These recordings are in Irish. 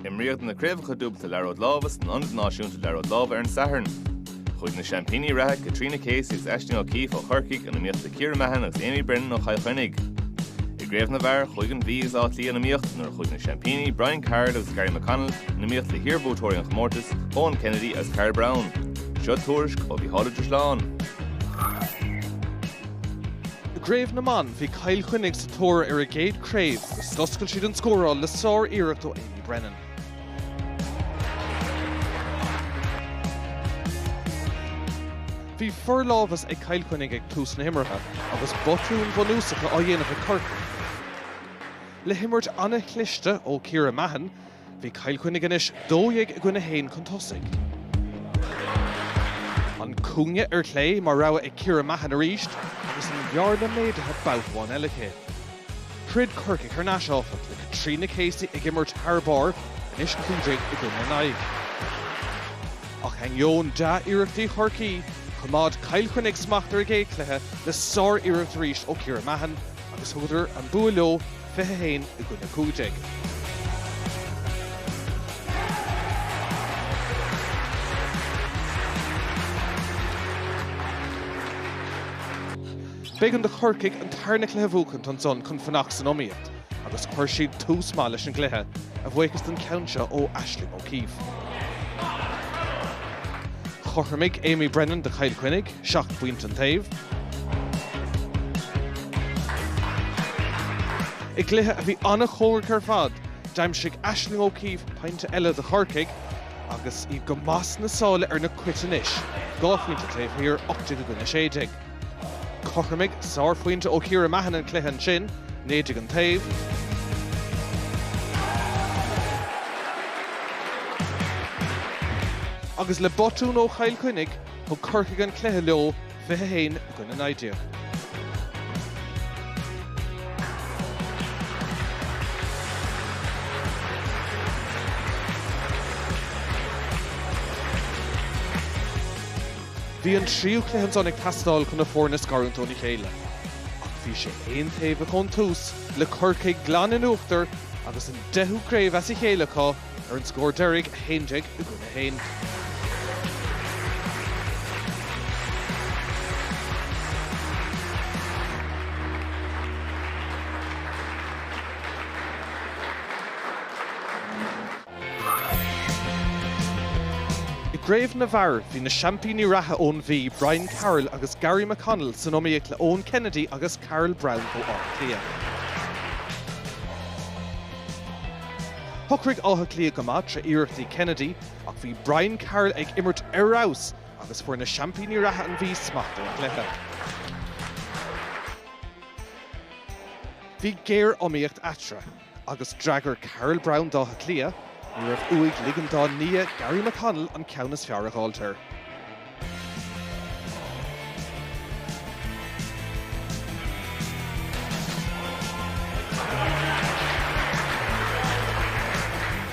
Imríodh na Craobhacha Dúbailte Liathróid Láimhe san Ionad Náisiúnta Liathróid Láimhe ar an Satharn. Chuaigh na seaimpíní reatha Caitríona Casey agus Aisling O'Keeffe ó Chorcaigh in iomaíocht le Ciara Mahon agus Amy Brennan ó Chill Chainnigh. I gcraobh na bhfear, chuaigh an Mhí agus Áth Cliath in iomaíocht nuair a chuaigh na seaimpíní Brian Carroll agus Gary McConnell in iomaíocht le hiarbhuaiteoirí an chomórtais, Eoin Kennedy agus Carl Browne. Seo tuairisc ó Mhícheál Ó Drisleáin. I gCraobh na mBan, bhí Cill Chainnigh sa tóir ar a gcéad chraobh agus d'oscail siad an scóráil le sár-iarracht ó Amy Brennan. Bhí forlámhas ag Cill Chainnigh ag tús na himeartha agus botúin bhunúsacha á dhéanamh ag Corcaigh. Le himirt an-chliste ó Ciara Mahon, Bhí Cill Chainnigh anois 12 i gcoinne 1 chun tosaigh. An cúinne ar chlé mar rogha ag Ciara Mahon arís agus an bhearna méadaithe babhta amháin eile aici. Throid Corcaigh thar n-ais, áfach, le Caitríona Casey ag imirt thar barr, anois 15 i gcoinne 9. Ach ainneoin dea-iarrachtaí Chorcaí, choimeád Cill Chainnigh smacht ar an gcéad chluiche le sár-iarracht arís ó Chiara Mahon agus thugadar an bua leo, 21 i gcoinne 15. B'éigean do Chorcaigh an tarna cluiche a bhuachaint ansan chun fanacht san iomaíocht agus chuir siad tús maith leis an gcluiche, a bhuíochas don cheann seo ó Aisling O'Keeffe. Chothromaigh Amy Brennan do Chill Chainnigh. seacht bpointe an taobh. I gcluiche a bhí an-chóngarach ar fad, d'aimsigh Aisling O'Keeffe pointe eile do Chorcaigh agus iad go maith sna sála ar na Cait anois, dhá phointe taobh thiar, 18 i gcoinne 16. Chothromaigh sárphointe ó Chiara Mahon an cluiche ansin, 19 an taobh. Agus le botún ó Chill Chainnigh, Thug Corcaigh an cluiche leo, 21 i gcoinne 19. Bhí an tríú cluiche ansan ag teastáil chun na foirne a scarúint óna chéile. Ach bhí sé aontaobhach ón tús le Corcaigh glan in uachtar agus an deichiú craobh as a chéile acu ar an scór deiridh, 11 i gcoinne 1. I gcraobh na bhfear, bhí na seaimpíní reatha ón Mhí, Brian Carroll agus Gary McConnell, san iomaíocht le Eoin Kennedy agus Carl Browne ó Áth Cliath. Shocraigh Áth Cliath go maith tré iarrachtaí Kennedy ach bhí Brian Carroll ag imirt ar fheabhas agus fuair na seaimpíní reatha an Mhí smacht ar an gcluiche. Bhí géar-iomaíocht eatarthu agus d'fhreagair Carl Browne d'Áth Cliath, ní raibh uaidh ligean dá nia Gary McConnell an ceann is fearr a dh'fháilt air.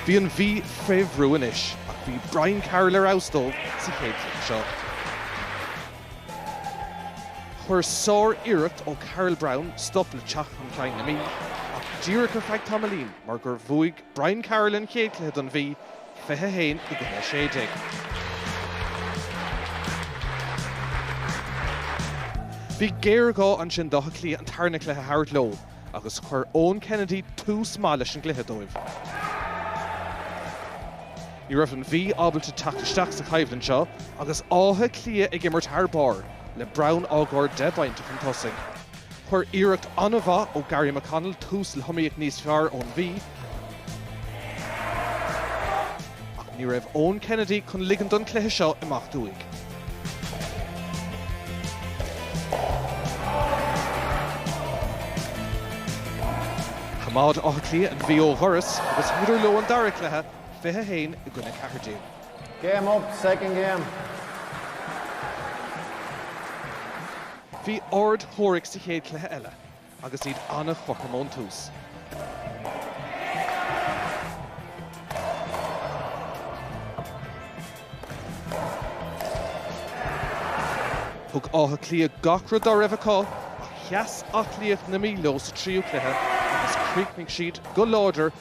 Bhí an Mhí fé bhrú anois ach bhí Brian Carroll ar fheabhas dóibh sa chéad leath seo. Chuir sár-iarracht ó Carl Browne stop le teacht chun cinn na Mí ach díreach ar feadh tamaillín mar gur bhuaigh Brian Carroll an chéad cluiche don Mhí, 21 i gcoinne 16. Bhí géarghá ansin d'Áth Cliath an tarna cluiche a thabhairt leo agus chuir Eoin Kennedy tús maith leis an gcluiche dóibh. Ní raibh an Mhí ábalta teacht isteach sa choimhlint seo agus Áth Cliath ag imirt thar barr le Browne á gcur 10 bpointe chun tosaigh. Chuir iarracht an-mhaith ó Gary McConnell tús le hiomaíocht níos fearr ón Mhí, ach ní raibh Eoin Kennedy chun ligean don chluiche seo imeacht uaidh. Choimeád Áth Cliath an Mhí ó dhoras agus thugadar leo an dara cluiche, 21 i gcoinne 14. Game up, second game. Bhí ard-chomhraic sa chéad chluiche eile agus iad an-chothrom ón tús. Thug Áth Cliath gach rud dá raibh acu ach sheas aclaíocht na Mí leo sa tríú cluiche agus chríochnaigh siad go láidir